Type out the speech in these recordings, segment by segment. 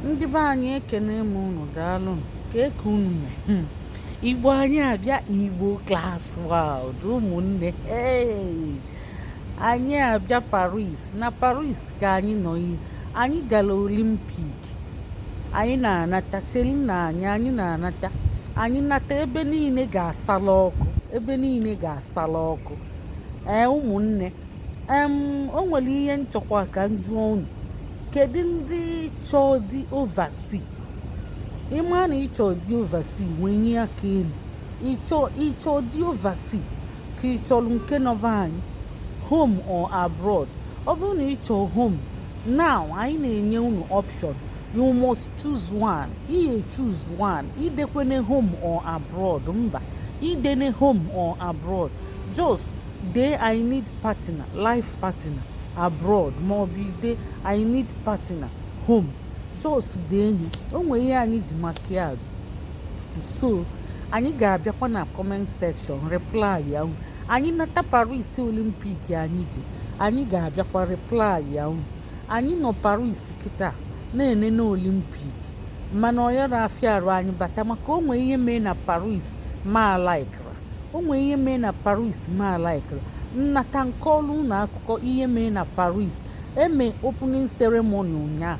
ndị be anyị ekenee m unu daalụ kee ka unu mee igbo anyị abịa igbo class world ụmụnne anyị abịa paris na paris ka anyị nọ ihe anyị gara olympic anyị na-anata chelinụ anyị anyị na-anata anyị nata ebe niile ga-asala ọkụ ebe niile ga-asala ọkụ ee ụmụnne em o nwere ihe m chọkwa ka m jụọ unu kedu ndị chọọ di oversea ị ma na ị chọ di oversea wenye aka elu ị chọ di oversea ka ị chọrọ nke nọ be anyị home or abroad ọ bụrụ na ị chọ home now anyị na-enye unu option you must choose one ị choose one idekwene home or abroad mba idene home or abroad just Dee I need partner, life partner, abroad ma ọ bụ i dee I need partner, home. Just deenye, o nwere ihe anyị ji maka ya ajụ. So anyị ga-abịakwa na comment section reply ya unu anyị nata paris olympic anyị ji anyị ga-abịakwa reply ya unu anyị nọ paris kịta na-enene olympic mana ọ ya-ara afịa arụ anyị bata maka o nwe ihe mee na paris m alike o nwee ihe mee na paris m alikerọ m nata m kọọlụ unu akụkọ ihe mee na paris e me opening ceremony ụnyaa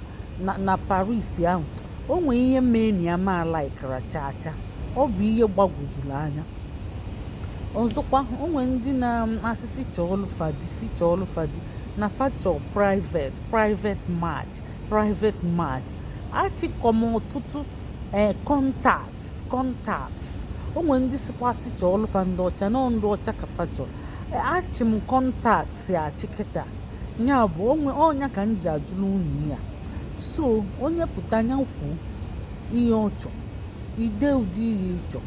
na paris ahụ o nwee ihe mee na ya m alikerọ chaa chaa ọ bụ ihe gbagwojuru anya ọzọkwa o nwee ndị na-asị sị chọọlụ fa di sị chọọlụ fa di na fa chọ private private match private match achịkọ m ọtụtụ ee eh, contact contact o nwe ndị sịkwa sị chọọlụ fa ndị ọcha na ndị ọcha ka fa chọ e, achị m contacts achị kịta ya bụ ọ nya ka m ji ajụrụ unu ya so onye pụta nya kwuo ihe ọ chọ i dee ụdị ihe ị chọ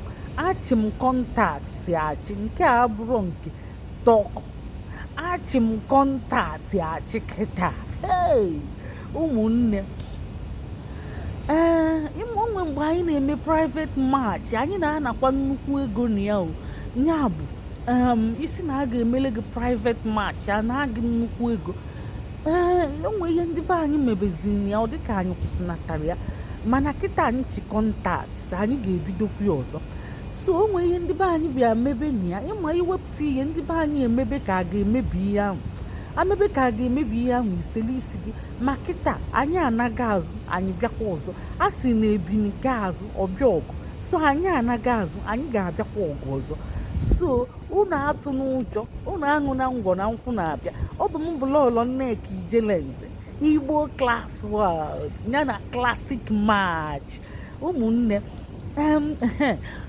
achị m contacts achị nke a abụrọ nke talk achị m contact achị kịta hey! ụmụnne ee o nwe mgbe anyị na-eme private match anyị na-anakwa nnukwu ego na ya o ya bụ ị sị na a ga-emele gị private match a naa gị nnukwu ego ee o nwe ihe ndị be anyị mebezini ya ọ dịka anyị kwụsịnatara ya mana kịta anyị chi contact anyị ga-ebidokwu ya ọzọ so o nwe ihe ndị be anyị bịa mebe na ya ị ma iwepụ Ti ihe ndị be anyị e mebe ka a ga-emebi ihe ahụ a mebe ka a ga-emebi ihe ahụ i sele isi gị ma kịta anyị ana-aga azụ anyị bịakwa ọzọ a sị na ebini gaa azụ ọ bịa ọgụ so anyị ana-aga azụ anyị ga-abịakwa ọgụ ọzọ so unu atụna ụjọ unu aṅụna ngwọ na nkwụ na-abịa ọ bụ m bụ lọọlọ nneka ijelenze igbo class world ya na classic match ụmụnne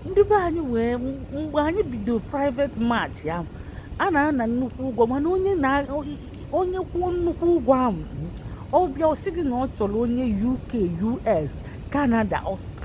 ndị be anyị wee mgbe anyị bido private match ahụ a na-ana nnukwu ụgwọ mana onye kwụọ nnukwu ụgwọ ahụ ọ bịa ọ sị gị na ọ chọrọ onye UK US Canada Australia